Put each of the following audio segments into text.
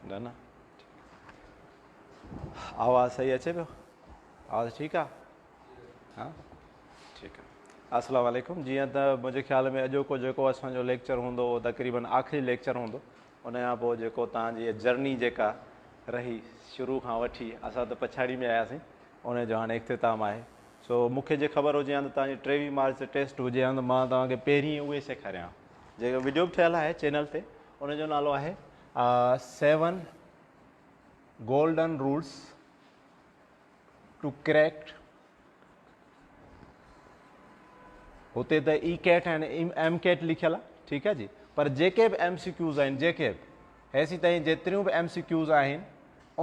گنا آواز صحيح اچي پيو آواز ٺيڪ آ ها ٺيڪ آ السلام عليڪم جي ته منهنجي خيال ۾ اڄوڪو جيڪو اسانجو ليڪچر هوندو هو تقريبن آخري ليڪچر هوندو ان کان پوء جيڪو تان جي جرني جيڪا رهي شروع کان وٺي اسان ته پڇاڙي ۾ آياسين ان جو هاڻي اختتام آهي سو مونکي جي خبر هجي ها ته تان جي ٽيوي مارچ ٽيسٽ هجي ها ته مان تان کي پهرين اهي سيکاريان جيڪو وڊيو به ٺهيل آهي چينل تي ان جو نالو آهي seven golden rules to crack هتي ته اي کيٽ ۽ ايم کيٽ لکيل آهي ٺيڪ آهي جي پر جيڪي به ايم سي ڪيوز آهن جيڪي به هيسي تائين جيتريون به ايم سي ڪيوز آهن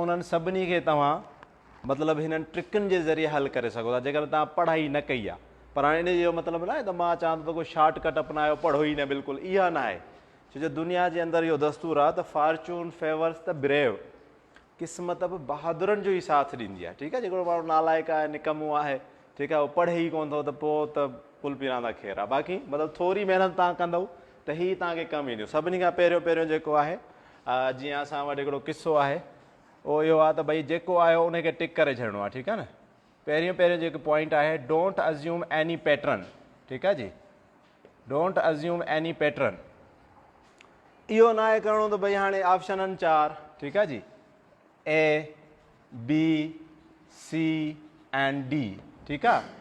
انهن سڀني کي توهان مطلب هنن ٽرڪن جي ذريعي حل ڪري سگهو ٿا جيڪڏهن توهان پڙهائي نه ڪئي آهي پر هاڻي ان جو مطلب ناهي ته مان چوان ٿو ته ڪو شارٽ ڪٽ اپنايو پڙهو ئي نه بلڪل اها ناهي ڇو جو دنيا جي اندر اهو دستور آهي ته فارچون فيورس ته بريو قسمت به بهادرن جو ئي ساٿ ڏيندي آهي ٺيڪ آهي جيڪو ماڻهو نالائق آهي نڪمو آهي ٺيڪ آهي اهو پڙهي ئي ڪون ٿو ته پوء ته پل پي راندا خير آهي باقي مطلب ٿوري محنت تان ڪندو ته هي توهان کي ڪم اينديون سڀني کان پهريون پهريون جيڪو آهي جيئن اسان وٽ هڪڙو قصو آهي اهو اهو آهي ته ڀئي جيڪو آيو انهي کي ٽڪ ڪري ڇڏڻو آهي ٺيڪ آهي نه پهريون پهريون جيڪو پوائنٽ آهي ڊونٽ ازيوم ايني پيٽرن ٺيڪ آهي جي ڊونٽ ازيوم ايني پيٽرن اهو نه آهي ڪرڻو ته ڀئي هاڻي آپشن آهن چار ٺيڪ آهي جي A B C and D ٺيڪ آهي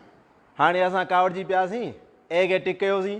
هاڻي اسان ڪاوڙجي پياسين اي کي ٽڪ ڪيوسين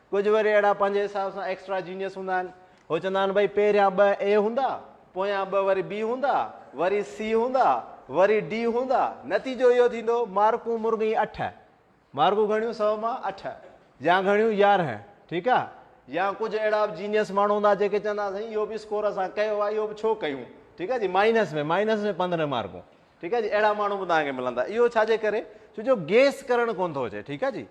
ڪجهه وري اهڙا پنهنجي حساب سان ايڪسٽرا جينيس هوندا آهن. هو چوندا آهن ڀئي پهريان ٻه اي هوندا، پويان ٻه وري بي هوندا، وري سي هوندا، وري ڊي هوندا، نتيجو اهو ٿيندو مارڪون مرغئي اٺ، مارڪون گهڻيون سؤ مان اٺ يا گهڻيون يارهن، ٺيڪ آ. يا ڪجهه اهڙا به جينيس ماڻهو هوندا جيڪي چوندا آهن سائين اهو به اسڪور اسان ڪيو آ اهو به ڇو ڪيون، ٺيڪ آ جي مائنس ۾ مائنس ۾ پندرهن مارڪون، ٺيڪ آ جي اهڙا ماڻهو به توهان کي ملندا اهو ڇا جي ڪري ڇو جو گيس ڪرڻ ڪونه ٿو اچي، ٺيڪ آ جي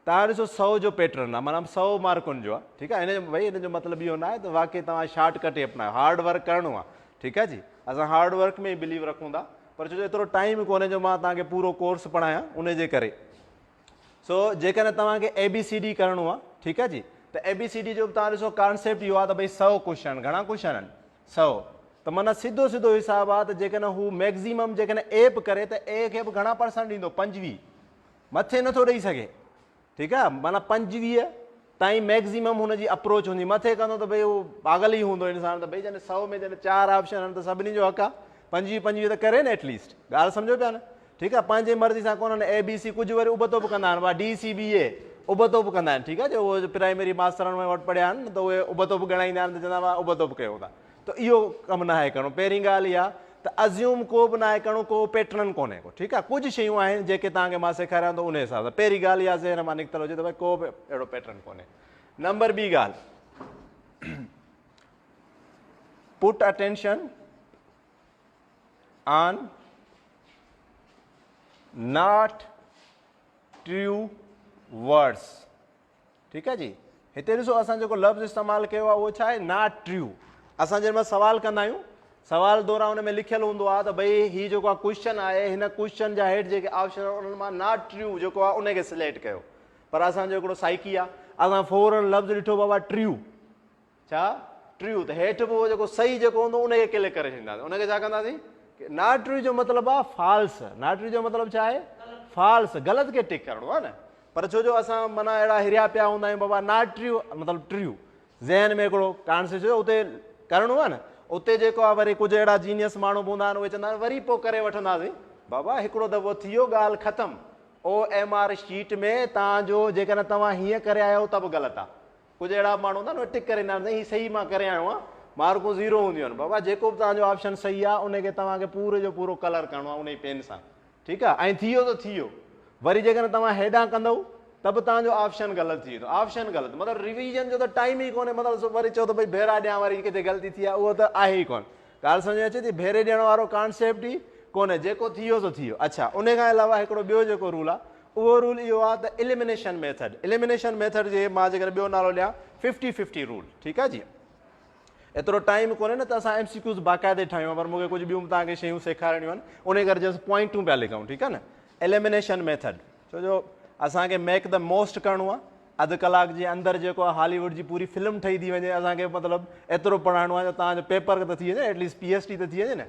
تان ڏسو سؤ جو پيٽرن آ معنيٰ سؤ مارڪن جو آ ٺيڪ آ هن ڀئي هن جو مطلب اهو ناهي ته واقعي توهان شارٽ ڪٽ ئي اپنايو هارڊ ورڪ ڪرڻو آ ٺيڪ آ جي اسان هارڊ ورڪ ۾ ئي بليو رکون ٿا پر ڇو جو ايترو ٽائيم ڪونهي جو مان توهان کي پورو ڪورس پڙهايان ان جي ڪري سو جيڪڏهن توهان کي اي بي سي ڊي ڪرڻو آ ٺيڪ آ جي ته اي بي سي ڊي جو به توهان ڏسو ڪانسيپٽ اهو آ ته ڀئي سؤ ڪوشچن گهڻا ڪوشچن آهن سؤ ته معنيٰ سڌو سڌو حساب آ ته جيڪڏهن هو ميڪزيمم جيڪڏهن اي به ڪري ته اي کي به گهڻا پرسنٽ ڏيندو پنجويهه مٿي نٿو ڏئي سگهي ٺيڪ آ معنيٰ پنجويهه تائين ميڪزيمم هن جي اپروچ هوندي مٿي ڪندو ته ڀئي هو پاگل ئي هوندو انسان ته ڀئي جڏهن سؤ ۾ جڏهن چار آپشن آهن ته سڀني جو حق آ پنجويهه پنجويهه ته ڪري نه ايٽ ليسٽ ڳالهه سمجهو پيا نه ٺيڪ آ پنهنجي مرضي سان ڪونهن اي بي سي ڪجهه وري ابتو به ڪندا آهن اها ڊي سي بي اي ابتو به ڪندا آهن ٺيڪ آ جو اهو پرائمري ماسترڻ وٽ پڙهيا آهن ته اهي ابتو به ڳڻائيندا آهن ته چوندا هئا ابتو به ڪيو ٿا ته اهو ڪم ناهي ڪرڻو پهرين ڳالهه اها ته ازيوم ڪو به ناهي ڪرڻو ڪو پيٽرن ڪونهي ڪو ٺيڪ آهي ڪجهه شيون آهن جيڪي توهان کي مان سيکاريان ٿو ان حساب سان پهرين ڳالهه اها ذهن مان نڪتل هجي ته ڀاء ڪو به اهڙو پيٽرن ڪونهي نمبر ٻي ڳالهه put attention on not true words ٺيڪ آ جي هتي ڏسو اسان جيڪو لفظ استعمال ڪيو آ اهو ڇا آهي ناٽ ٽريو اسان جنهن مهل سوال ڪندا آهيون سوال دوران ان ۾ لکيل هوندو آ ته ڀئي هي جيڪو آ ڪوشچن آهي هن ڪوشچن جا هيٺ جيڪي آپشن آهن انهن مان ناٽ ٽريو جيڪو آ ان کي سليڪٽ ڪيو پر اسان جو هڪڙو سائيڪي آ اسان فورن لفظ ڏٺو بابا ٽريو ڇا ٽريو ته هيٺ به اهو جيڪو صحيح جيڪو هوندو ان کي ڪلڪ ڪري ڇڏينداسين ان کي ڇا ڪنداسين ناٽ ٽريو جو مطلب آ فالس ناٽ ٽريو جو مطلب ڇا آهي فالس غلط کي ٽڪ ڪرڻو آ نه پر ڇو جو اسان معنيٰ اهڙا هريا پيا هوندا آهيون بابا ناٽ ٽريو مطلب ٽريو ذهن ۾ هڪڙو ڪانسيپٽ ڇو اتي ڪرڻو آ نه اتي جيڪو آ وري ڪجهه اهڙا جينيس ماڻهو به هوندا آهن اهي چوندا آهن وري پوء ڪري وٺنداسين بابا هڪڙو دفعو ٿي ويو ڳالهه ختم او ايم آر شيٽ ۾ تان جو جيڪڏهن توهان هيئن ڪري آيا آهيو ته به غلط آ ڪجهه اهڙا به ماڻهو هوندا آهن ٽڪ ڪري ايندا آهن سائين هي صحيح مان ڪري آيو آهيان مارڪون زيرو هونديون آهن بابا جيڪو به توهان جو آپشن صحيح آهي ان کي توهان کي پوري جو پورو ڪلر ڪرڻو آهي ان ئي پين سان ٺيڪ آهي ۽ ٿي ويو ته ٿي ويو وري جيڪڏهن توهان هيڏانهن ڪندؤ ته به توهان جو آپشن غلط ٿي ويندو آپشن غلط مطلب ريويزن جو ته ٽائيم ئي ڪونهي مطلب وري چئو ته ڀئي ڀيرا ڏيان وري ڪٿي غلطي ٿي آهي اهو ته آهي ئي ڪونه ڳالهه سمجهه ۾ اچي ٿي؟ ڀيري ڏيڻ وارو ڪانسيپٽ ئي ڪونهي، جيڪو ٿي ويو سو ٿي ويو. اڇا ان کان علاوه هڪڙو ٻيو جيڪو رول آ اهو رول اهو آ ته اليمنيشن ميٿڊ، اليمنيشن ميٿڊ جي مان جيڪڏهن ٻيو نالو ڏيان ففٽي ففٽي رول ٺيڪ آ جي. ايترو ٽائيم ڪونهي نه ته اسان ايم سي ڪيوز باقاعدي ٺاهيون ها پر مون کي ڪجهه ٻيون به توهان کي شيون سيکارڻيون آهن انهي ڪري جسٽ پوائنٽون پيا لکون ٺيڪ آ نه اليمنيشن ميٿڊ ڇو جو اسان کي ميڪ ته موسٽ ڪرڻو آ اڌ ڪلاڪ جي اندر جيڪو آ هالي ووڊ جي پوري فلم ٺهي ٿي وڃي اسان کي مطلب ايترو پڙهائڻو آ جو توهان جو پيپر ته ٿي وڃي at least P S T ته ٿي وڃي نه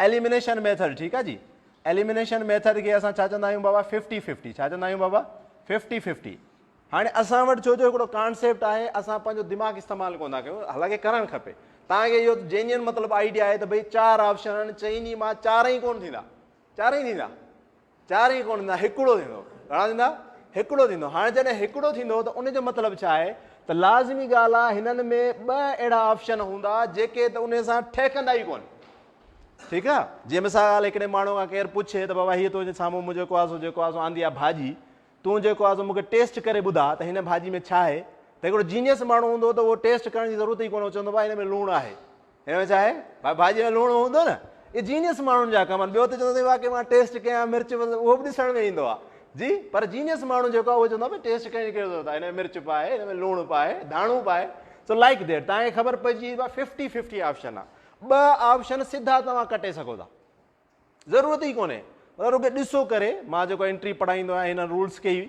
ايليمنيشن ميٿڊ ٺيڪ آ جي ايليمنيشن ميٿڊ کي اسان ڇا چوندا آهيون بابا ففٽي ففٽي ڇا چوندا آهيون بابا ففٽي ففٽي هاڻي اسان وٽ ڇو جو هڪڙو ڪانسيپٽ آهي اسان پنهنجو دماغ استعمال ڪون ٿا ڪيون حالانڪه ڪرڻ کپي تان کي اهو جينين مطلب آئيڊيا آهي ته ڀئي چار آپشن آهن چئني مان چار ئي ڪون ٿيندا چار ئي ٿيندا چار ئي ڪونه ٿيندا هڪڙو ٿيندو گهڻا ٿيندا هڪڙو ٿيندو هاڻي جڏهن هڪڙو ٿيندو ته ان جو مطلب ڇا آهي ته لازمي ڳالهه آهي هنن ۾ ٻه اهڙا آپشن هوندا جيڪي ته ان سان ٺهڪندا ئي ڪونه ٺيڪ آ جي مثال هڪڙي ماڻهو کان ڪير پڇي ته بابا هي تنهنجي سامهون منهنجو ڪواسو جيڪو آسو آندي آ ڀاڄي تون جيڪو آهي سو مون کي ٽيسٽ ڪري ٻڌاء ته هن ڀاڄي ۾ ڇا آهي؟ ته هڪڙو جينيئس ماڻهو هوندو ته اهو ٽيسٽ ڪرڻ جي ضرورت ئي ڪونه هو چوندو ڀاء هن ۾ لوڻ آهي هن ۾ ڇا آهي ڀاء ڀاڄي ۾ لوڻ هوندو نه اهي جينيئس ماڻهن جا ڪم آهن ٻيو ته چوندو واقعي مان ٽيسٽ ڪيان مرچ اهو به ڏسڻ ۾ ايندو آهي جي پر جينيئس ماڻهو جيڪو آهي اهو چوندو آهي ٽيسٽ ڪرڻ جي ڪهڙي ضرورت آهي هن ۾ مرچ پاء هن ۾ لوڻ پاء ڌاڻو پاء سو لائڪ ديٽ تان کي خبر پئجي وئي ڀاء ففٽي ففٽي آپشن آهي ٻه آپشن سڌا توهان ڪٽي سگهو ٿا ضرورت ئي ڪونهي مطلب رڳو ڏسو ڪري مان جيڪو انٽري پڙهائيندو آهيان هنن رولز کي ئي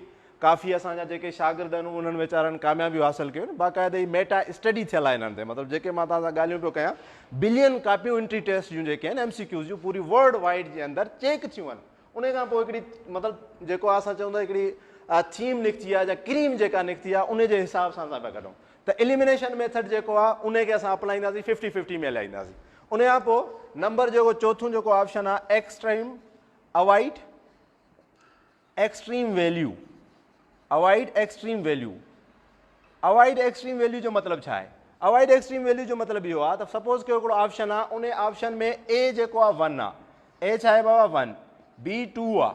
ڪافي اسان جا جيڪي شاگرد آهن انهن ويچارن ڪاميابيون حاصل ڪيون باقاعده هي ميٽا اسٽڊي ٿيل آهي هنن تي مطلب جيڪي مان توهان سان ڳالهيون پيو ڪيان بلين ڪاپيون انٽري ٽيسٽ جون جيڪي آهن ايم سي ڪيوز جون پوري ورلڊ وائڊ جي اندر چيڪ ٿيون آهن ان کان پوء هڪڙي مطلب جيڪو اسان چون ٿا هڪڙي ٿيم نڪتي آهي يا ڪريم جيڪا نڪتي آهي ان جي حساب سان اسان پيا ڪڍون ته اليمنيشن ميٿڊ جيڪو آهي انهي کي اسان اپلائينداسين ففٽي ففٽي ۾ هلائينداسين ان کان پوء نمبر جيڪو چوٿون جيڪو آپشن آهي extreme avoid extreme value avoid extreme value avoid extreme value جو مطلب ڇا آهي اوائيڊ ايڪسٽريم ويليو جو مطلب اهو آهي ته سپوز ڪيو هڪڙو آپشن آهي ان آپشن ۾ اي جيڪو آهي ون آهي اي ڇا آهي بابا ون بي ٽو آهي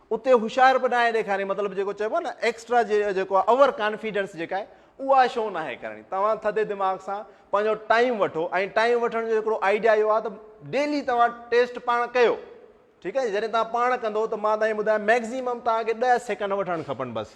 اتي هوشيار به ناهي ڏيکارڻي مطلب جيڪو چئبو آهي نه ايڪسٽرا جيڪو آهي اوور ڪانفيڊنس جيڪا آهي اها شو ناهي ڪرڻي توهان ٿڌي دماغ سان پنهنجو ٽائيم وٺو ۽ ٽائيم وٺڻ جو هڪڙو آئيڊيا اهو آهي ته ڊيلي توهان ٽيسٽ پاڻ ڪيو ٺيڪ آهي جڏهن توهان پاڻ ڪندو ته مان توهان کي ٻڌايان ميڪزيمم توهان کي ڏهه سيڪنڊ وٺڻ کپن بس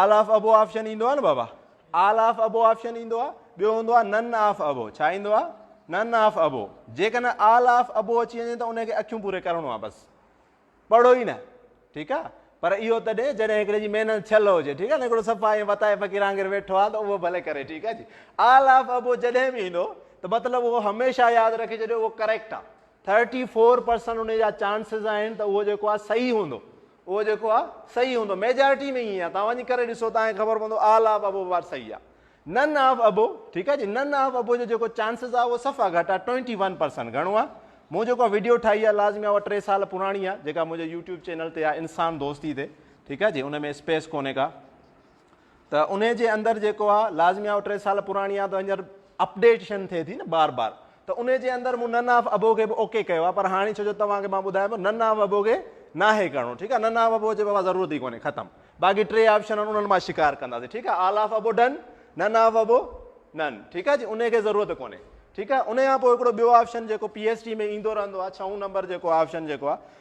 آل آف ابو آپشن ايندو آ نه بابا آل آف ابو آپشن ايندو آ ٻيو هوندو آ نن آف ابو ڇا ايندو آ نن آف ابو جيڪڏهن آل آف ابو اچي وڃي ته ان کي اکيون پوري ڪرڻو آ بس پڙهو ئي نه ٺيڪ آ پر اهو تڏهن جڏهن هڪڙي جي محنت ڇل هجي ٺيڪ آ نه هڪڙو صفا ائين وتائي فقير آنگر ويٺو آ ته اهو ڀلي ڪري ٺيڪ آ جي آل آف ابو جڏهن به ايندو ته مطلب اهو هميشه ياد رکي ڇڏيو اهو ڪريڪٽ آ ٿرٽي فور پرسنٽ ان جا چانسز آهن ته اهو جيڪو آ صحيح هوندو اهو جيڪو آ صحيح هوندو ميجارٽي ۾ ائين آ توهان وڃي ڪري ڏسو توهان کي خبر پوندو آل آف ابو پارٽ صحيح آ نن آف ابو ٺيڪ آ جي نن آف ابو جو جيڪو چانسز آ اهو صفا گهٽ آ ٽوئنٽي ون پرسنٽ گهڻو آ مون جيڪو وڊيو ٺاهي آ لازمي آ اها ٽي سال پراڻي آ جيڪا منهنجي يوٽيوب چينل تي آ انسان دوستي تي ٺيڪ آ جي ان ۾ اسپيس ڪونهي ڪا ته انهي جي اندر جيڪو آ لازمي آ ٽي سال پراڻي آ ته هينئر اپڊيٽشن ٿئي ٿي نه بار بار ته انهي جي اندر مون نن آف ابو کي به اوڪي ڪيو آ پر هاڻي ڇو جو توهان کي مان ٻڌايان پيو نن آف ابو کي ناهي ڪرڻو ٺيڪ آ نن آف ابو جي بابا ضرورت ئي ڪونهي ختم باقي ٽي آپشن آهن انهن مان شڪار ڪنداسين ٺيڪ آ all of above done none of above none ٺيڪ آ جي انهي کي ضرورت ڪونهي ٺيڪ آ انهي کان پوء هڪڙو ٻيو آپشن جيڪو پي ايس ٽي ۾ ايندو رهندو آ ڇهون نمبر جيڪو آپشن جيڪو آ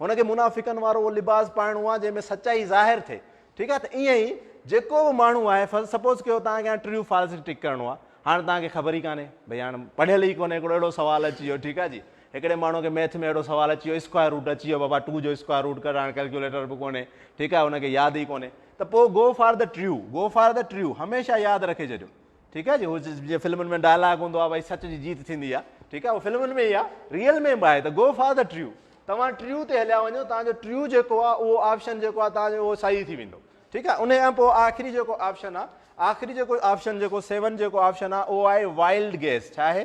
هن کي منافقن وارو اهو لباس پائڻو آهي جنهن ۾ سچائي ظاهر ٿئي ٺيڪ آهي ته ائين ئي جيڪو به ماڻهو آهي سپوز ڪيو تان کي ٽريو فالس ٽڪ ڪرڻو آهي هاڻ تان کي خبر ئي ڪانهي ڀئي هاڻ پڙهيل ئي ڪونهي هڪڙو اهڙو سوال اچي ويو ٺيڪ آهي جي هڪڙي ماڻهو کي ميٿ ۾ اهڙو سوال اچي ويو اسڪوائر روٽ اچي ويو بابا ٽو جو اسڪوائر روٽ ڪر هاڻ ڪيلڪيوليٽر به ڪونهي ٺيڪ آهي هن کي ياد ئي ڪونهي ته پوء go for the true go for the true هميشه ياد رکي ڇڏيو ٺيڪ آهي جي هو جيئن فلمن ۾ ڊائلاگ هوندو آهي ڀائي سچ جي جيت ٿيندي آهي ٺيڪ آهي هو فلمن ۾ ئي آهي ريئل ۾ به آهي ته گو فار دا ٽريو توهان ٽريو تي هليا وڃو توهان جو ٽريو جيڪو آهي اهو آپشن جيڪو آهي توهان جو اهو صحيح ٿي ويندو ٺيڪ آهي ان کان پوء آخري جيڪو آپشن آهي آخري جيڪو آپشن جيڪو سيون جيڪو آپشن آهي اهو آهي وائلڊ گيس ڇا آهي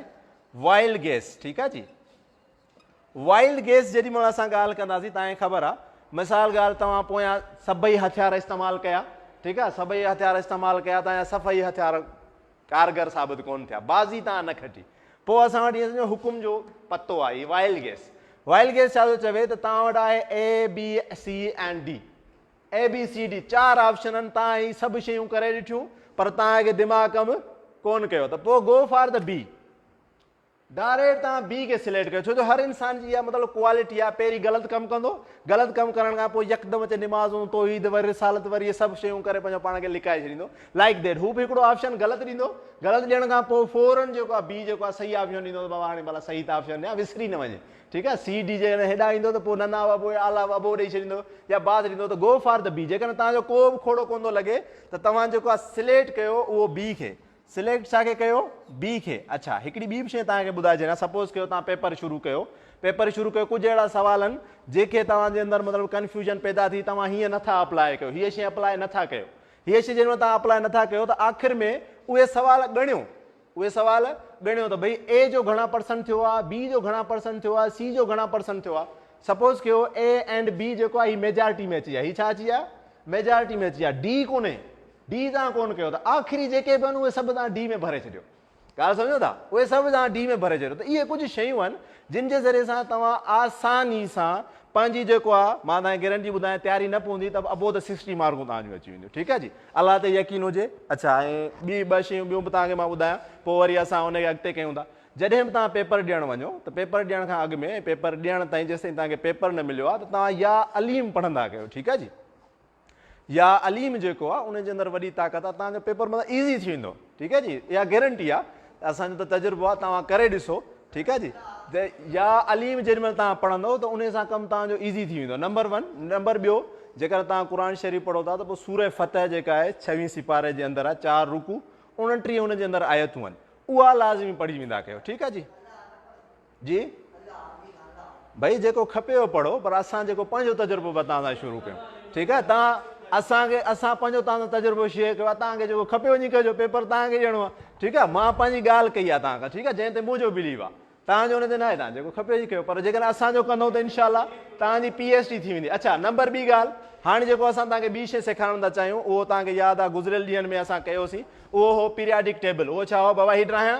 وائلڊ گيس ٺيڪ آهي جي وائلڊ گيس جيڏي مھل اسان ڳالھ ڪنداسين تان کي خبر آ مثال ڳالھ توھان پويان سڀئي ھٿيار استعمال ڪيا ٺيڪ آ سڀئي ھٿيار استعمال ڪيا تان جا سڀئي ھٿيار ڪارگر ثابت ڪون ٿيا بازي تان نه کٽي پوء اسان وٽ ائين سمجھو حڪم جو پتو آ ھي وائلڊ گيس وائلڊ گيس ڇا ٿو چوي ته تان وٽ آھي A B C ۽ D A B C D چار آپشنن تان ھي سڀ شيون ڪري ڏٺيون پر تان کي دماغ ڪم ڪون ڪيو ته پوء گو فار ته بي ڊائريٽ توهان بي کي سليڪٽ ڪيو ڇو جو هر انسان جي اها مطلب ڪوالٽي آهي پهرين غلط ڪم ڪندو غلط ڪم ڪرڻ کان پوء يڪدم اچي نمازون توحيد وري رسالت وري اهي سڀ شيون ڪري پنهنجو پاڻ کي لڪائي ڇڏيندو لائڪ ديٽ هو به هڪڙو آپشن غلط ڏيندو غلط ڏيڻ کان پوء فورن جيڪو آهي بي جيڪو آهي صحيح آپشن ڏيندو ته بابا هاڻي ڀلا صحيح ته آپشن ڏيان وسري نه وڃي ٺيڪ آهي سي ڊي جي هيڏانهن ايندو ته پوء نه نه ابو اعليٰ ابو ڏيئي ڇڏيندو يا بعد ڏيندو ته گو فار ته بي جيڪڏهن توهان جو ڪو به کوڙو ڪوندو لڳي ته توهان جيڪو آهي سليڪٽ ڪيو اهو بي کي سليڪٽ ڇا کي ڪيو؟ بي کي. اڇا هڪڙي ٻي به شيء توهان کي ٻڌائي ڇڏيان سپوز ڪيو توهان پيپر شروع ڪيو پيپر شروع ڪيو ڪجهه اهڙا سوال آهن جيڪي توهان جي اندر مطلب ڪنفيوزن پيدا ٿي توهان هيئن نه ٿا اپلاء ڪيو هيء شيء اپلاء نه ٿا ڪيو هيء شيء جيڏيمهل توهان اپلاء نه ٿا ڪيو ته آخر ۾ اهي سوال ڳڻيو اهي سوال ڳڻيو ته ڀئي اي جو گهڻا پرسنٽ ٿيو آهي بي جو گهڻا پرسنٽ ٿيو آهي سي جو گهڻا پرسنٽ ٿيو آهي سپوز ڪيو اي اينڊ بي جيڪو آهي هي ميجارٽي ۾ اچي ويا هي ڇا اچي ويا ميجارٽي ۾ اچي ويا ڊي ڪونهي ڊي تان ڪونه ڪيو ته آخري جيڪي به آهن اهي سڀ تان ڊي ۾ ڀري ڇڏيو ڳالهه سمجهو ٿا اهي سڀ تان ڊي ۾ ڀري ڇڏيو ته اهي ڪجهه شيون آهن جن جي ذريعي سان توهان آساني سان پنهنجي جيڪو آهي مان توهان کي گيرنٽي ٻڌايان تياري نه پوندي ته ابو ته سڪسٽي مارڪون توهان جون اچي وينديون ٺيڪ آهي جي الله تي يقين هجي اڇا ۽ ٻي ٻه شيون ٻيون به توهان کي مان ٻڌايان پوء وري اسان ان کي اڳتي ڪيون ٿا جڏهن به توهان پيپر ڏيڻ وڃو ته پيپر ڏيڻ کان اڳ ۾ پيپر ڏيڻ تائين جيسين توهان کي پيپر نه مليو آهي ته توهان يا عليم پڙهندا ڪيو ٺيڪ آهي جي يا عليم جيڪو آ ان جي اندر وڏي طاقت آ توهان جو پيپر مطلب ايزي ٿي ويندو ٺيڪ آ جي اها گيرنٽي آ اسان جو ته تجربو آ توهان ڪري ڏسو ٺيڪ آ جي يا عليم جيڏي مهل توهان پڙهندو ته ان سان ڪم توهان جو ايزي ٿي ويندو نمبر ون نمبر ٻيو جيڪر توهان قرآن شريف پڙهو ٿا ته پوء سورة فتح جيڪا آهي ڇويهين سپاري جي اندر آ چار رڪو اڻٽيهه ان جي اندر آيتون آهن اها لازمي پڙهي ويندا ڪيو ٺيڪ آ جي جي ڀئي جيڪو کپيو پڙهو پر اسان جيڪو پنهنجو تجربو به تان سان شروع ڪيون ٺيڪ آهي تان اسان کي اسان پنهنجو تان سان تجربو شيئر ڪيو آهي تان کي جيڪو کپيو وڃي ڪجو پيپر تان کي ڏيڻو آهي ٺيڪ آهي مان پنهنجي ڳالهه ڪئي آهي تان کان ٺيڪ آهي جنهن تي منهنجو بليو آهي تان جو ان تي ناهي تان جيڪو کپيو جي ڪيو پر جيڪڏهن اسان جو ڪندو ته انشاء الله تان جي پي ايچ ڊي ٿي ويندي اڇا نمبر ٻي ڳالهه هاڻي جيڪو اسان تان کي ٻي شيء سيکارڻ ٿا چاهيون اهو تان کي ياد آهي گذريل ڏينهن ۾ اسان ڪيوسين اهو هو پيرياڊڪ ٽيبل اهو ڇا هو بابا هي ڊراهيان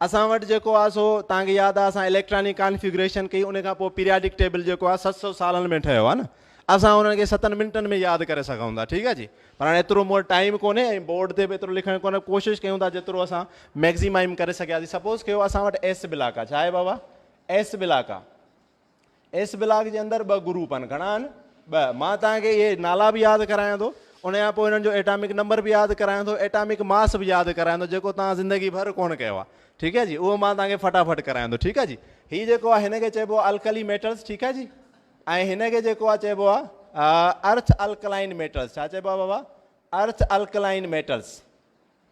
اسان وٽ جيڪو آ سو توهان کي ياد آ اسان اليڪٽرانڪ ڪانفيگريشن ڪئي ان کان پوء پيرياڊڪ ٽيبل جيڪو آ ست سؤ سالن ۾ ٺهيو آ نه اسان انهن کي ستن منٽن ۾ ياد ڪري سگهون ٿا ٺيڪ آ جي پر هاڻي ايترو مون وٽ ٽائيم ڪونهي ۽ بورڊ تي به ايترو لکڻ ڪونهي ڪوشش ڪيون ٿا جيترو اسان ميگزيمائم ڪري سگهياسين سپوز ڪيو اسان وٽ ايس بلاڪ آ ڇا آهي بابا ايس بلاڪ آ ايس بلاڪ جي اندر ٻه گروپ آهن، گهڻا آهن؟ ٻه. مان توهان کي اهي نالا به ياد ڪرايان ٿو، ان کان پوء انهن جو ايٽامڪ نمبر به ياد ڪرايان ٿو، ايٽامڪ ماس به ياد ڪرايان ٿو جيڪو توهان زندگي ڀر ڪونه ڪيو آهي، ٺيڪ آهي جي، اهو مان توهان کي فٽافٽ ڪرايان ٿو، ٺيڪ آهي جي. هي جيڪو آهي هن کي چئبو آهي الڪلي ميٽلز، ٺيڪ آهي جي، ۽ هن کي جيڪو آهي چئبو آهي ارٿ الڪلائن ميٽلز، ڇا چئبو آهي بابا؟ Earth alkaline metals.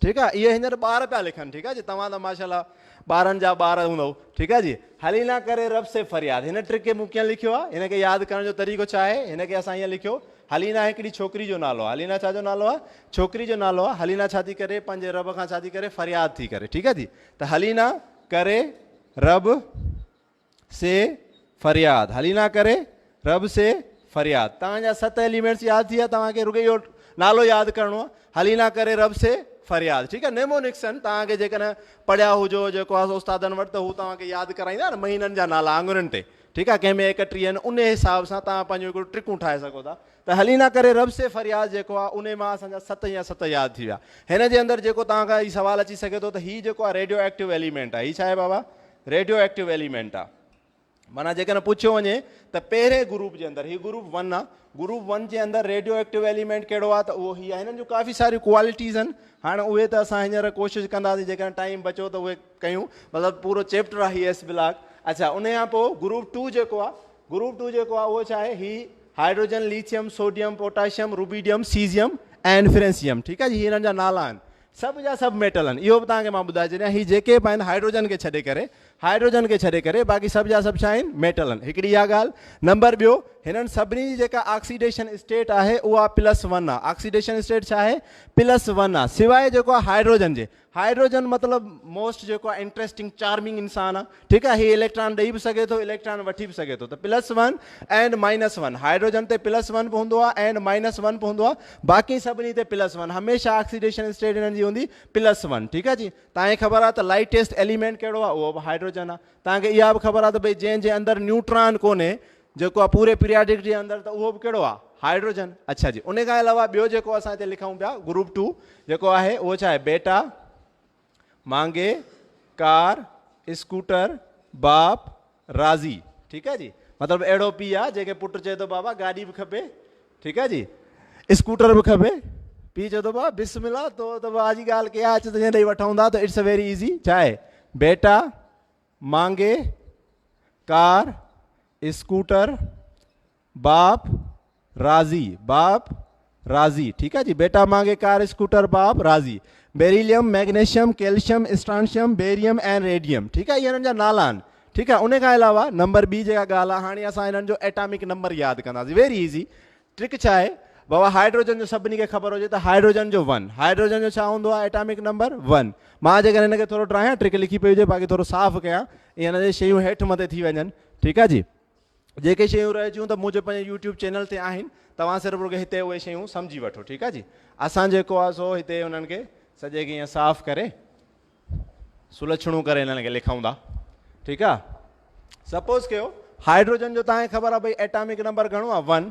ٺيڪ آ اهي هينئر ٻار پيا لکن ٺيڪ آ جي توهان ته ماشاءالله ٻارن جا ٻار هوندؤ ٺيڪ آ جي حلينا ڪري رب سي فرياد هن ٽرڪ کي مون ڪيئن لکيو آ هن کي ياد ڪرڻ جو طريقو ڇا آهي هن کي اسان هيئن لکيو حلينا هڪڙي ڇوڪري جو نالو آ حلينا ڇا جو نالو آ ڇوڪري جو نالو آ حلينا ڇا ٿي ڪري پنهنجي رب کان ڇا ٿي ڪري فرياد ٿي ڪري ٺيڪ آ جي ته حلينا ڪري رب سي فرياد هلي نه ڪري رب سي فرياد توهان جا ست ايليمينٽس ياد ٿي ويا توهان کي رڳو اهو نالو ياد ڪرڻو آهي هلي نه ڪري رب سي فرياد ٺيڪ آهي نيمو نڪسن توهان کي جيڪڏهن پڙهيا هجو جيڪو آهي استادن وٽ ته هو توهان کي ياد ڪرائيندا نه مهينن جا نالا آڱرين تي ٺيڪ آهي ڪنهن ۾ ايڪٽيهه آهن ان حساب سان توهان پنهنجو هڪڙو ٽرڪون ٺاهي سگهو ٿا ته هلي نه ڪري رب سي فرياد جيڪو آهي ان مان اسان جا ست يا ست ياد ٿي ويا هن جي اندر جيڪو توهان کان هي سوال اچي سگهي ٿو ته هي جيڪو آهي ريڊيو ايڪٽيو ايليمينٽ آهي هي ڇا آهي بابا ريڊيو ايڪٽو ايليمينٽ آ معنيٰ جيڪڏهن پڇيو وڃي ته پهرين گروپ جي اندر هي گروپ ون آ گروپ ون جي اندر ريڊيو ايڪٽو ايليمينٽ ڪهڙو آ ته اهو هي آ هنن جون ڪافي ساريون ڪوالٽيز آهن هاڻ اهي ته اسان هينئر ڪوشش ڪنداسين جيڪڏهن ٽائيم بچو ته اهي ڪيون مطلب پورو چيپٽر آ هي ايس بلاڪ اڇا ان کان پوء گروپ ٽو جيڪو آ گروپ ٽو جيڪو آ اهو ڇا آهي هي hydrogen lithium sodium potassium rubidium caesium ۽ francium ٺيڪ آ جي هي هنن جا نالا آهن سڀ جا سڀ ميٽل آهن اهو به توهان کي مان ٻڌائي ڇڏيان هي جيڪي به آهن هائيڊروجن کي ڇڏي ڪري هائيڊروجن کي ڇڏي ڪري باقي سڀ جا سڀ ڇا آهن ميٽل آهن هڪڙي اها ڳالهه نمبر ٻيو هنن سڀني جي جيڪا آڪسيڊيشن اسٽيٽ آهي اها پلس ون آهي آڪسيڊيشن اسٽيٽ ڇا آهي پلس ون آهي سواء جيڪو آهي هائيڊروجن جي هائيڊروجن مطلب موسٽ جيڪو آهي انٽريسٽنگ چارمنگ انسان آهي ٺيڪ آهي هي اليڪٽران ڏئي به سگهي ٿو اليڪٽران وٺي به سگهي ٿو ته plus one and minus one hydrogen تي پلس ون به هوندو آهي اينڊ مائنس ون به هوندو آهي باقي سڀني تي پلس ون هميشه آڪسيڊيشن اسٽيج هنن جي هوندي پلس ون ٺيڪ آهي جي تاکي خبر آهي ته لائٽيسٽ ايليمينٽ ڪهڙو آهي اهو به هائڊروجن آهي تاکي اها به خبر آهي ته ڀئي جنهن جي اندر نيوٽران ڪونهي جيڪو آهي پوري پيرياڊڪ جي اندر ته اهو به ڪهڙو آهي هائڊروجن اڇا جي ان کان علاوه ٻيو جيڪو اسان هتي لکون پيا گروپ ٽو جيڪو آهي اهو ڇا آهي بيٽا مانگي، ڪار، اسڪوٽر، باپ، راضي، ٺيڪ آ جي مطلب اهڙو پيء آ جنهن کي پٽ چئي ٿو بابا گاڏي به کپي ٺيڪ آ جي اسڪوٽر به کپي پيء چئي ٿو بابا بسم الله تو ته واء جي ڳالهه ڪئي آ اچ تنهنجي ڏي وٺون ٿا ته اٽس ا ويري ايزي ڇا آهي بيٽا مانگي ڪار اسڪوٽر باپ، راضي، باپ، راضي، ٺيڪ آ جي، بيٽا مانگي ڪار اسڪوٽر باپ، راضي، beryllium, magnesium, calcium, strontium, barium ۽ radium, ٺيڪ آ، اهي هنن جا نالا آهن، ٺيڪ آ، ان کان علاوه نمبر ٻي جيڪا ڳالهه آ، هاڻي اسان هنن جو ايٽامڪ نمبر ياد ڪنداسين، ويري ايزي، ٽرڪ ڇا آهي، بابا هائيڊروجن جو سڀني کي خبر هجي ته هائيڊروجن جو ون، هائيڊروجن جو ڇا هوندو آهي ايٽامڪ نمبر ون، مان جيڪڏهن هن کي ٿورو ڊراهيان، ٽرڪ لکي پئي هجي باقي ٿورو صاف ڪيان، ايئن نه ته شيون هيٺ مٿي ٿي وڃن، ٺيڪ آ جي. جيڪي شيون رهجيون ته منهنجي پنهنجي يوٽيوب چينل تي آهن توهان صرف رڳو هتي اهي شيون سمجهي وٺو ٺيڪ آهي جي اسان جيڪو آهي سو هتي انهن کي سڄي کي ائين صاف ڪري سلڇڻو ڪري انهن کي لکون ٿا ٺيڪ آهي سپوز ڪيو هائڊروجن جو تهان کي خبر آهي ڀئي ايٽامڪ نمبر گهڻو آهي ون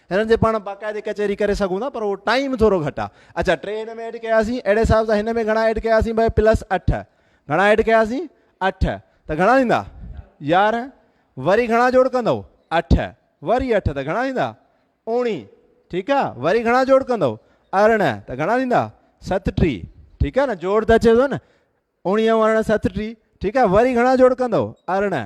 هنن جي پاڻ باقاعدي ڪچهري ڪري سگهون ٿا پر اهو ٽائيم ٿورو گهٽ آهي اچا ٽي هن ۾ ايڊ ڪياسين اهڙي حساب سان هن ۾ گهڻا ايڊ ڪياسين بھي پلس اٺ گهڻا ايڊ ڪياسين اٺ ته گهڻا ٿيندا يارهن وري گهڻا جوڙ ڪندو اٺ وري اٺ ته گهڻا ٿيندا اوڻي ٺيڪ آ وري گهڻا جوڙ ڪندو ارڙهن ته گهڻا ٿيندا ستٽي ٺيڪ آ نه جوڙ ته اچي ٿو نه اوڻيهه ارڙهن ستٽي ٺيڪ آ وري گهڻا جوڙ ڪندو ارڙهن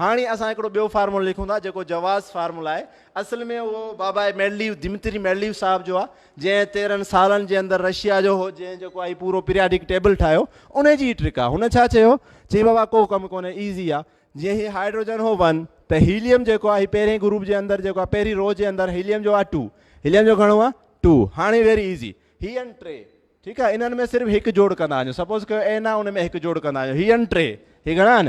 هاڻي اسان هڪڙو ٻيو فارمولو لکون ٿا جيڪو جواز فارمولو آهي. اصل ۾ اهو بابائي مينڊليو، ديمتري مينڊليو صاحب جو آهي جنهن تيرهن سالن جي اندر رشيا جو هو جنهن جيڪو آهي پورو پيرياڊڪ ٽيبل ٺاهيو انهي جي هي ٽرڪ آهي. هن ڇا چيو؟ چي بابا ڪو ڪم ڪونهي ايزي آهي. جيئن هي هائيڊروجن هو ون ته هيليم جيڪو آهي هي پهرين گروپ جي اندر جيڪو آهي پهرين رو جي اندر هيليم جو آهي ٽو. هيليم جو گهڻو آهي ٽو. هاڻي ويري ايزي هي ۽ ٽي ٺيڪ آهي انهن ۾ صرف هڪ جوڙ ڪندا وڃو سپوز ڪيو اين آهي ان ۾ هڪ جوڙ ڪندا وڃو هي ۽ ٽي هي گهڻا آهن؟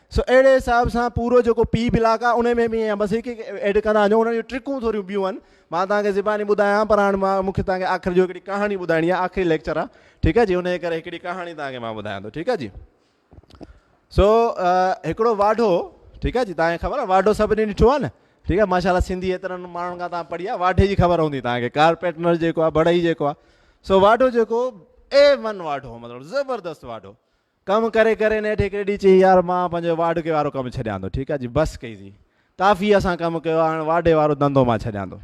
سو اهڙي حساب سان پورو جيڪو پي بلاڪ آ ان ۾ به ائين آ بس هڪ هڪ ايڊ ڪندا وڃو انهن جون ٽرڪون ٿوريون ٻيون آهن مان توهان کي زباني ٻڌايان پر هاڻي مان مون کي توهان کي آخر جو هڪڙي ڪهاڻي ٻڌائڻي آ آخري ليڪچر آ ٺيڪ آ جي ان جي ڪري هڪڙي ڪهاڻي توهان کي مان ٻڌايان ٿو ٺيڪ آ جي سو هڪڙو واڍو ٺيڪ آ جي توهان کي خبر آ واڍو سڀني ڏٺو آ نه ٺيڪ آ ماشاء الله سنڌي ايترن ماڻهن کان توهان پڙهي آ واڍي جي خبر هوندي توهان کي ڪارپيٽنر جيڪو آ بڙهئي جيڪو آ سو واڍو جيڪو اي ون واڍو مطلب زبردست واڍو ڪم ڪري ڪري نيٺ هڪڙي ڏينهن چيائين يار مان پنهنجو واڍڪي وارو ڪم ڇڏيان ٿو ٺيڪ آهي جي بس ڪئي سين ڪافي اسان ڪم ڪيو آهي هاڻ واڍي وارو ڌنڌو مان ڇڏيان ٿو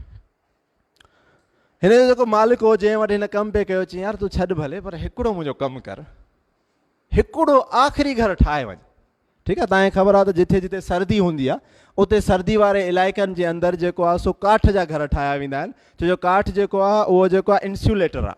هن جو جيڪو مالڪ هو جنهن وٽ هن ڪم پي ڪيو چيائين يار تون ڇڏ ڀلي پر هڪڙو منهنجو ڪم ڪر هڪڙو آخري گهر ٺاهي وڃ ٺيڪ آهي تانکي خبر آهي ته جتي جتي سردي هوندي آهي اتي سردي واري علائقن جي اندر جيڪو آهي سو ڪاٺ جا گهر ٺاهيا ويندا آهن ڇو جو ڪاٺ جيڪو آهي اهو جيڪو آهي انسيوليٽر آهي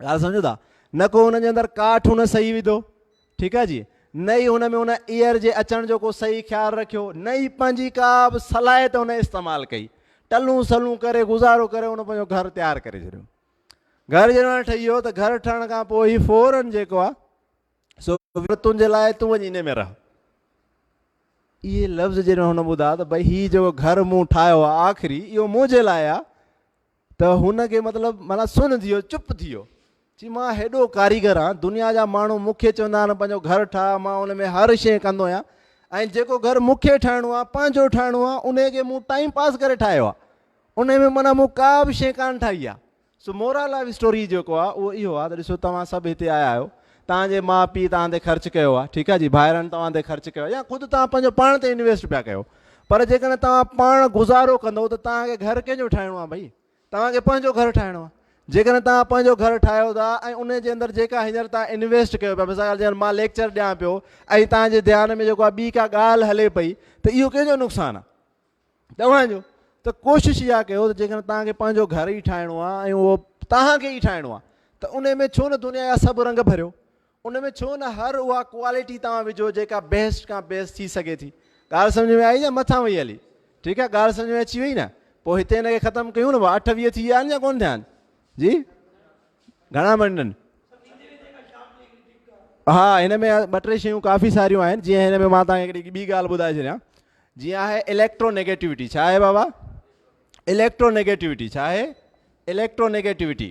ڳالهه سمجهو ٿا نه ڪو هن جي اندر ڪاٺ هن صحيح وڌو ٺيڪ آهي جي نه ئي هن ۾ هن ايئر جي اچڻ جو ڪو صحيح خيال رکيو نه ئي پنهنجي ڪا به صلاحيت هن استعمال ڪئي ٽلون سلون ڪري گذارو ڪري هن پنهنجو گهر تيار ڪري ڇڏيو گهر جڏهن ٺهي ويو ته گهر ٺهڻ کان پوء هي فورن جيڪو آهي سو تنهنجي لاء تون وڃي ان ۾ رهه اهي لفظ جڏهن هن ٻڌا ته ڀائی هي جيڪو گهر مون ٺاهيو آخري اهو منهنجي لاء آهي ته هن کي مطلب معنيٰ سن ٿي ويو، چپ ٿي ويو. چي مان هيڏو ڪاريگر آهيان، دنيا جا ماڻهو مون کي چوندا آهن پنهنجو گهر ٺاهه، مان ان ۾ هر شيء ڪندو آهيان ۽ جيڪو گهر مون کي ٺاهڻو آهي، پنهنجو ٺاهڻو آهي، انهيء کي مون ٽائيم پاس ڪري ٺاهيو آهي. انهيء ۾ معنيٰ مون ڪا به شيء ڪانه ٺاهي آهي. سو مورال آف اسٽوري جيڪو آهي اهو اهو آهي ته ڏسو توهان سڀ هتي آيا آهيو، توهان جي ماء پيء توهان تي خرچ ڪيو آهي، ٺيڪ آهي جي، ڀائرن توهان تي خرچ ڪيو آهي يا خود توهان پنهنجو پاڻ تي انويسٽ پيا ڪيو. پر جيڪڏهن توهان پاڻ گذارو ڪندو ته توهان کي گهر ڪنهن جو ٺاهڻو آهي ڀئي توهان کي پنهنجو گهر ٺاهڻو آهي جيڪڏهن توهان پنهنجو گهر ٺاهيو ٿا ۽ ان جي اندر جيڪا هينئر توهان انويسٽ ڪيو پيا مثال جيڪر مان ليڪچر ڏيان پيو ۽ توهان جي ڌيان ۾ جيڪو ٻي ڪا ڳالهه هلي پئي ته اهو ڪنهن جو نقصان آهي توهان جو ته کوشش اها ڪيو ته جيڪڏهن توهان کي پنهنجو گهر ئي ٺاهڻو آهي ۽ اهو توهان کي ئي ٺاهڻو آهي ته ان ۾ ڇو نه دنيا جا سڀ رنگ ڀريو ان ۾ ڇو نه هر اها ڪوالٽي توهان وجهو جيڪا بيسٽ کان بيسٽ ٿي سگهي ٿي. ڳالهه سمجهه ۾ آئي يا مٿان وئي هلي؟ ٺيڪ آهي ڳالهه سمجهه ۾ اچي وئي نه؟ پوء هتي هن کي ختم ڪيون نه ڀا اٺ ويهه ٿي ويا آهن يا ڪونه ٿيا آهن؟ جي گهڻا منٽن؟ ها هن ۾ ٻه ٽي شيون ڪافي ساريون آهن جيئن هن ۾ مان توهان کي هڪڙي ٻي ڳالهه ٻڌائي ڇڏيان جيئن آهي اليڪٽرو نيگيٽوٽي ڇا آهي بابا اليڪٽرو نيگيٽوٽي ڇا آهي اليڪٽرو نيگيٽوٽي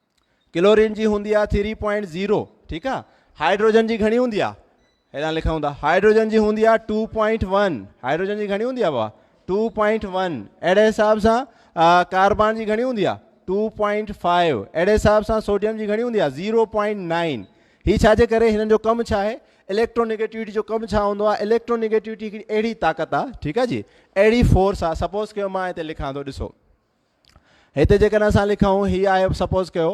ڪلورين جي هوندي آ ٿري پوائنٽ زيرو ٺيڪ آ هائيڊروجن جي گهڻي هوندي آ هيڏانهن لکون ٿا هائيڊروجن جي هوندي آ ٽو پوائنٽ ون هائيڊروجن جي گهڻي هوندي آ بابا ٽو پوائنٽ ون اهڙي حساب سان ڪاربان جي گهڻي هوندي آ ٽو پوائنٽ فائيو اهڙي حساب سان سوڊيم جي گهڻي هوندي آ زيرو پوائنٽ نائن هي ڇا جي ڪري هنن جو ڪم ڇا آهي اليڪٽرونيگيٽوٽي جو ڪم ڇا هوندو آهي اليڪٽرونيگيٽوٽي هڪڙي اهڙي طاقت آ ٺيڪ آ جي اهڙي فورس آ سپوز ڪيو مان هتي لکان ٿو ڏسو هتي جيڪڏهن اسان لکون هي آهي سپوز ڪيو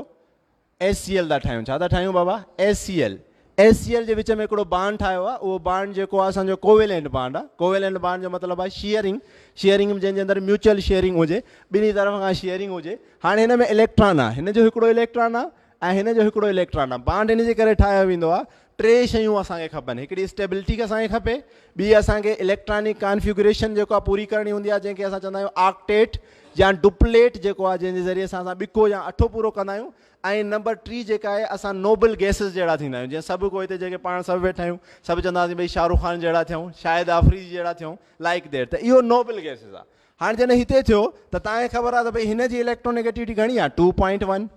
ايس سي ايل ٿا ٺاهيون ڇا ٿا ٺاهيون بابا S C L S C L جي وچ ۾ هڪڙو بانڊ ٺاهيو آهي اهو بانڊ جيڪو آهي اسانجو ڪوويلنٽ بانڊ آهي ڪوويلنٽ بانڊ جو مطلب آهي شيئرنگ شيئرنگ جنهن جي اندر ميوچل شيئرنگ هجي ٻنهي طرف کان شيئرنگ هجي هاڻي هن ۾ اليڪٽران آهي هن جو هڪڙو اليڪٽران آهي ۽ هن جو هڪڙو اليڪٽران آهي بانڊ ان جي ڪري ٺاهيو ويندو آهي ٽي شيون اسان کي کپن هڪڙي اسٽيبلٽي کي اسان کي کپي ٻي اسان کي اليڪٽرانڪ ڪانفيگريشن جيڪو آهي پوري ڪرڻي هوندي آهي جنهن کي اسان چوندا آهيون آڪٽيٽ يا ڊپليٽ جيڪو آهي جنهن جي ذريعي سان اسان ٻکو يا اٺو پورو ڪندا آهيون ۽ نمبر ٽي جيڪا آهي اسان نوبل گيسز جهڙا ٿيندا آهيون جيئن سڀ کو هتي جيڪي پاڻ سڀ ويٺا آهيون سڀ چونداسين ڀئي شاهه رخ خان جهڙا ٿيون شاهد آفريدي جهڙا ٿيون لائڪ دير ته اهو نوبل گيسز آهي هاڻي جڏهن هتي ٿيو ته تان کي خبر آهي ته ڀئي هن جي اليڪٽرو نيگيٽوٽي گهڻي آهي ٽو پوائنٽ ون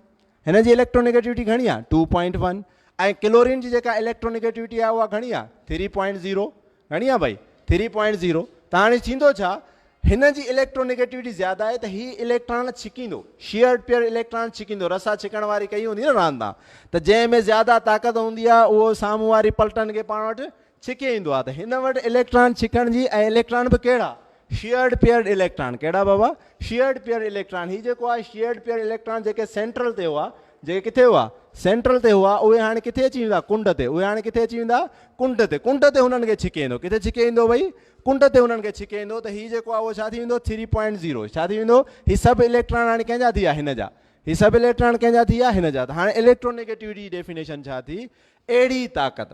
هن جي اليڪٽرونيگيٽوٽي گهڻي آهي ٽو پوائنٽ ون ۽ ڪلورين جي جيڪا اليڪٽرونيگيٽوٽي آهي اها گهڻي آهي ٿري پوائنٽ زيرو گهڻي آهي بھائی ٿري پوائنٽ زيرو ته هاڻي ٿيندو ڇا هن جي اليڪٽرونيگيٽوٽي زياده آهي ته هي اليڪٽران ڇڪيندو شيئر پيئر اليڪٽران ڇڪيندو رسا ڇڪڻ واري ڪئي هوندي نه راند تان ته جنهن ۾ زياده طاقت هوندي آهي اهو سامهون واري پلٽن کي پاڻ وٽ ڇڪي ايندو آهي ته هن وٽ اليڪٽران ڇڪڻ جي ۽ اليڪٽران به ڪهڙا؟ شيئرڊ پيئرڊ اليڪٽران ڪهڙا بابا؟ شيئرڊ پيئرڊ اليڪٽران هي جيڪو آهي شيئرڊ پيئرڊ اليڪٽران جيڪي سينٽرل تي هئا جيڪي ڪٿي هئا؟ سينٽرل تي هئا اهي هاڻي ڪٿي اچي ويندا ڪنڊ تي اهي هاڻي ڪٿي اچي ويندا ڪنڊ تي ڪنڊ تي هنن کي ڇڪي ايندو ڪٿي ڇڪي ايندو ڀئي ڪنڊ تي هنن کي ڇڪي ايندو ته هي جيڪو آهي اهو ڇا ٿي ويندو ٿري پوائنٽ زيرو ڇا ٿي ويندو هي سڀ اليڪٽران هاڻي ڪنهن جا ٿي ويا هن جا هي سڀ اليڪٽران ڪنهن جا ٿي ويا هن جا ته هاڻي اليڪٽرو نيگيٽوٽي جي ڊيفينيشن ڇا ٿي اهڙي طاقت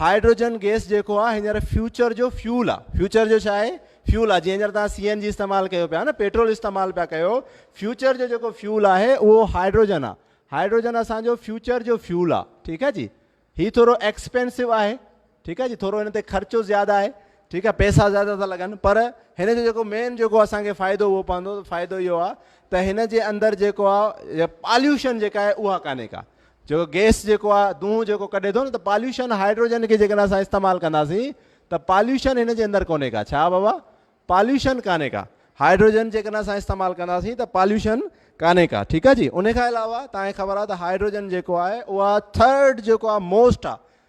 هائيڊروجن گئس جيڪو آ هينئر فيوچر جو فيول آ فيوچر جو ڇا آهي فيول آ جيئن هينئر توهان سي اين جي استعمال ڪيو پيا نه پيٽرول استعمال پيا ڪيو فيوچر جو جيڪو فيول آهي اهو هائيڊروجن آ هائيڊروجن اسان جو فيوچر جو فيول آ ٺيڪ آ جي هي ٿورو ايڪسپينسو آهي ٺيڪ آ جي ٿورو هن تي خرچو زياده آهي ٺيڪ آ پئسا زياده ٿا لڳن پر هن جو جيڪو مين جيڪو اسان کي فائدو اهو پوندو فائدو اهو آ ته هن جي اندر جيڪو آ پاليوشن جيڪا آهي اها ڪانهي ڪا جيڪو گيس جيڪو آ دونهون جيڪو ڪڍي ٿو نه ته پاليوشن هائيڊروجن کي جيڪڏهن اسان استعمال ڪنداسين ته پاليوشن هن جي اندر ڪونهي ڪا ڇا بابا پاليوشن ڪانهي ڪا هائيڊروجن جيڪڏهن اسان استعمال ڪنداسين ته پاليوشن ڪانهي ڪا ٺيڪ آ جي ان کان علاوه تان کي خبر آ ته هائيڊروجن جيڪو آهي اها ٿرڊ جيڪو آ موسٽ آ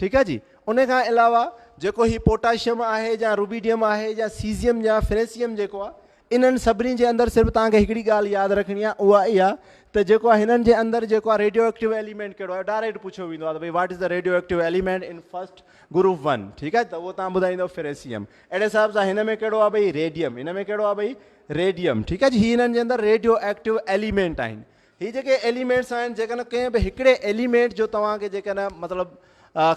ٺيڪ آهي جي ان کان علاوه جيڪو هي پوٽاشيم آهي يا روبيڊيم آهي يا سيزيم يا فريسيم جيڪو آهي انهن سڀني جي اندر صرف توهان کي هڪڙي ڳالهه ياد رکڻي آهي اها اها ته جيڪو آهي هنن جي اندر جيڪو آهي ريڊيو ايڪٽيو ايليمينٽ ڪهڙو آهي ڊائريڪٽ پڇيو ويندو آهي ته بھي what is the radioactive element in first group one ٺيڪ آهي ته اهو تان ٻڌائيندو فريسيم اهڙي حساب سان هن ۾ ڪهڙو آهي بھي ريڊيم هن ۾ ڪهڙو آهي بھي ريڊيم ٺيڪ آهي جي هي هنن جي اندر ريڊيو ايڪٽيو ايليمينٽ آهن هي جيڪي ايليمينٽس آهن جيڪڏهن ڪنهن به هڪڙي ايليمينٽ جو توهان کي جيڪڏهن مطلب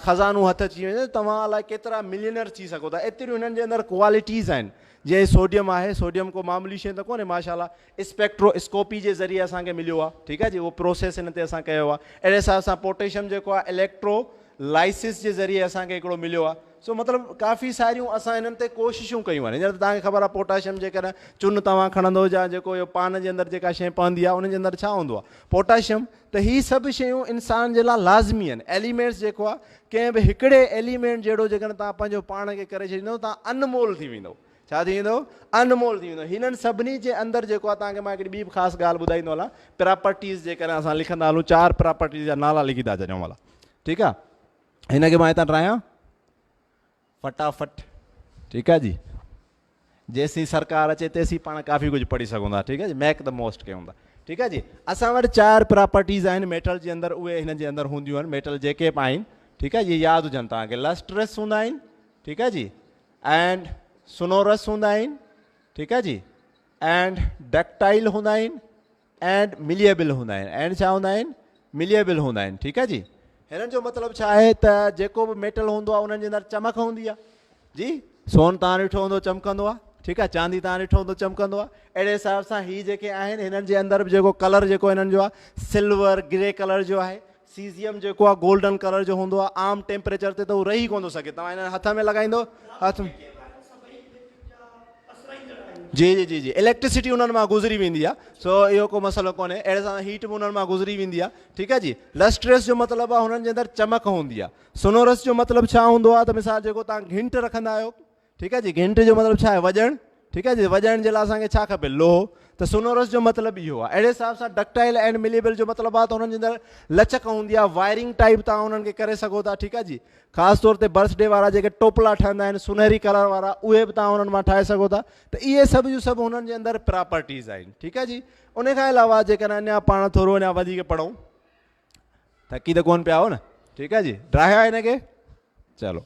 خزانو هٿ اچي وڃي توهان الاء ڪيترا ملينر ٿي سگهو ٿا ايتريون هنن جي اندر ڪوالٽيز آهن جيئن سوڊيم آهي سوڊيم ڪو معمولي شي ته ڪونهي ماشاء الله اسپيڪٽرو اسڪوپي جي ذريعي اسان کي مليو آهي ٺيڪ آهي جي اهو پروسيس هن تي اسان ڪيو آهي اهڙي حساب سان پوٽيشم جيڪو آهي اليڪٽرو لائسس جي ذريعي اسان کي هڪڙو مليو آهي سو مطلب ڪافي ساريون اسان هنن تي ڪوششون ڪيون آهن. هينئر ته توهان کي خبر آهي پوٽاشيم جيڪڏهن چن توهان کڻندو يا جيڪو اهو پان جي اندر جيڪا شيء پوندي آهي ان جي اندر ڇا هوندو آهي پوٽاشيم ته هي سڀ شيون انسان جي لاء لازمي آهن. ايليمينٽس جيڪو آهي ڪنهن به هڪڙي ايليمينٽ جهڙو جيڪڏهن توهان پنهنجو پاڻ کي ڪري ڇڏيندو توهان ان مول ٿي ويندو. ڇا ٿي ويندو؟ ان مول ٿي ويندو. هنن سڀني جي اندر جيڪو آهي توهان کي مان هڪڙي ٻي به خاص ڳالهه ٻڌائيندو هلان پراپرٽيز جيڪڏهن اسان لکندا هلون چار پراپرٽيز جا نالا لکي ٿا ڇڏيون ڀلا ٺيڪ آهي. هن کي مان هتان ٽرايان فٽافٽ ٺيڪ آهي جي جيسين سرڪار اچي تيسين پاڻ ڪافي ڪجهه پڙهي سگھون ٿا ٺيڪ آهي جي ميڪ د موسٽ ڪيون ٿا ٺيڪ آهي جي اسان وٽ چار پراپرٽيز آهن ميٽل جي اندر اهي هن جي اندر هونديون آهن ميٽل جيڪي به آهن ٺيڪ آهي جي ياد هجن توهان کي لسٽرس هوندا آهن ٺيڪ آهي جي اینڈ سنورس هوندا آهن ٺيڪ آهي جي اینڈ ڊڪٽائل هوندا آهن اينڊ مليئبل هوندا آهن اينڊ ڇا هوندا آهن مليئبل هوندا آهن ٺيڪ آهي جي هنن جو مطلب ڇا آهي ته جيڪو به ميٽل هوندو آهي انهن جي اندر چمڪ هوندي آهي جي سون تان ڏٺو هوندو چمڪندو آهي ٺيڪ آهي چاندي تان ڏٺو هوندو چمڪندو آهي اهڙي حساب سان هي جيڪي آهن هنن جي اندر به جيڪو ڪلر جيڪو هنن جو آهي سلور گري ڪلر جو آهي سيزيم جيڪو آ گولڊن ڪلر جو هوندو آ عام ٽيمپريچر تي ته هو رهي ڪونه ٿو سگهي توهان هن هٿ ۾ لڳائيندو هٿ ۾ جي جي جي جي اليڪٽرسٽي انهن مان گذري ويندي آ سو اهو ڪو مسئلو ڪونهي اهڙي سان هيٽ به انهن مان گذري ويندي آ ٺيڪ آ جي لسٽريس جو مطلب آ هنن جي اندر چمڪ هوندي آ سنورس جو مطلب ڇا هوندو آ ته مثال جيڪو توهان گهنٽ رکندا آهيو ٺيڪ آهي جي گهنٽ جو مطلب ڇا آهي وڄڻ ٺيڪ آهي جي وڄائڻ جي لاء اسان کي ڇا کپي لوهه ته سونورس جو مطلب اهو آهي اهڙي حساب سان ڊڪٽائل اينڊ مليبل جو مطلب آهي ته انهن جي اندر لچڪ هوندي آهي وائرنگ ٽائپ تان انهن کي ڪري سگهو ٿا ٺيڪ آهي جي خاص طور تي برس ڊي وارا جيڪي ٽوپلا ٺهندا آهن سونهري ڪلر وارا اهي به تان انهن مان ٺاهي سگهو ٿا ته اهي سڀ جو سڀ انهن جي اندر پراپرٽيز آهن ٺيڪ آهي جي ان کان علاوه جيڪڏهن اڃا پاڻ ٿورو اڃا وڌيڪ پڙھون ٿڪي ته ڪون پيا آهو نه ٺيڪ آهي جي ڊراهيا آهي هن کي چلو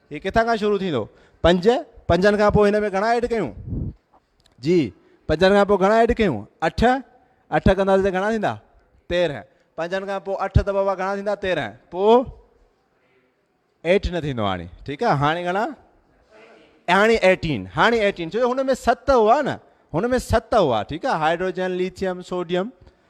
هي ڪٿان کان شروع ٿيندو؟ پنج، پنجن کان پوء هن ۾ گهڻا ايڊ ڪيون؟ جي، پنجن کان پوء گهڻا ايڊ ڪيون؟ اٺ، اٺ ڪنداسين ته گهڻا ٿيندا؟ تيرهن، پنجن کان پوء اٺ ته بابا گهڻا ٿيندا؟ تيرهن، پوء ايٽ نه ٿيندو هاڻي، ٺيڪ آهي، هاڻي گهڻا؟ هاڻي ايٽين، هاڻي ايٽين، ڇو جو هن ۾ ست هئا نه، هن ۾ ست هئا، ٺيڪ آهي، هائڊروجن، ليٿيم، سوڊيم،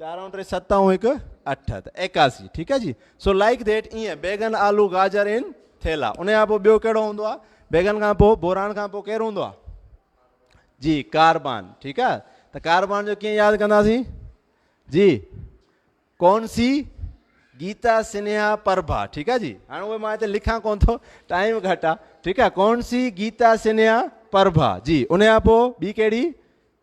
چار ۽ ٽي ست ۽ هڪ اٺ ته ايڪاسي ٺيڪ آهي جي سو لائيڪ ڌيٽ ائين بيگن آلو گاجر ان ٿيلا ان کان پوء ٻيو ڪهڙو هوندو آهي بيگن کان پوء بوران کان پوء ڪير هوندو آهي جي ڪاربان ٺيڪ آهي ته ڪاربان جو ڪيئن ياد ڪنداسين جي ڪون سي گيتا سنيها پرڀا ٺيڪ آهي جي هاڻي اهي مان هتي لکان ڪون ٿو ٽائيم گهٽ آهي ٺيڪ آهي ڪون سي گيتا سنيها پرڀا جي ان کان پوء ٻي ڪهڙي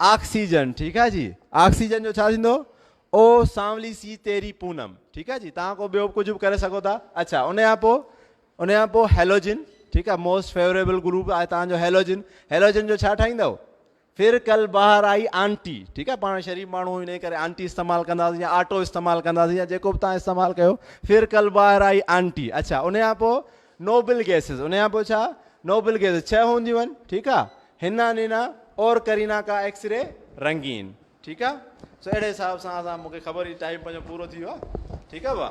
آڪسيجن ٺيڪ آ جي آڪسيجن جو ڇا ٿيندو او سانولي سي تيري پونم ٺيڪ آ جي تان ڪو ٻيو ڪجھ به ڪري سگھو ٿا اڇا ان کان پو ان کان پو هيلوجن ٺيڪ آ موسٽ فيوريبل گروپ آ تان جو هيلوجن هيلوجن جو ڇا ٺاهيندو پھر کل باهر آئي آنٽي ٺيڪ آ پاڻ شريف ماڻھو ان ڪري آنٽي استعمال ڪنداسين يا آٽو استعمال ڪنداسين يا جيڪو به تان استعمال ڪيو پھر کل باهر آئي آنٽي اڇا ان کان پو نوبل گيسز ان کان پوء ڇا نوبل گيسز ڇهه هونديون آهن ٺيڪ آ هنا نينا اور ڪرينا ڪا ايڪس ري رنگين ٺيڪ آ سو اهڙي حساب سان اسان مونکي خبر هي ٽائيم پنهنجو پورو ٿي ويو آ ٺيڪ آ ڀا.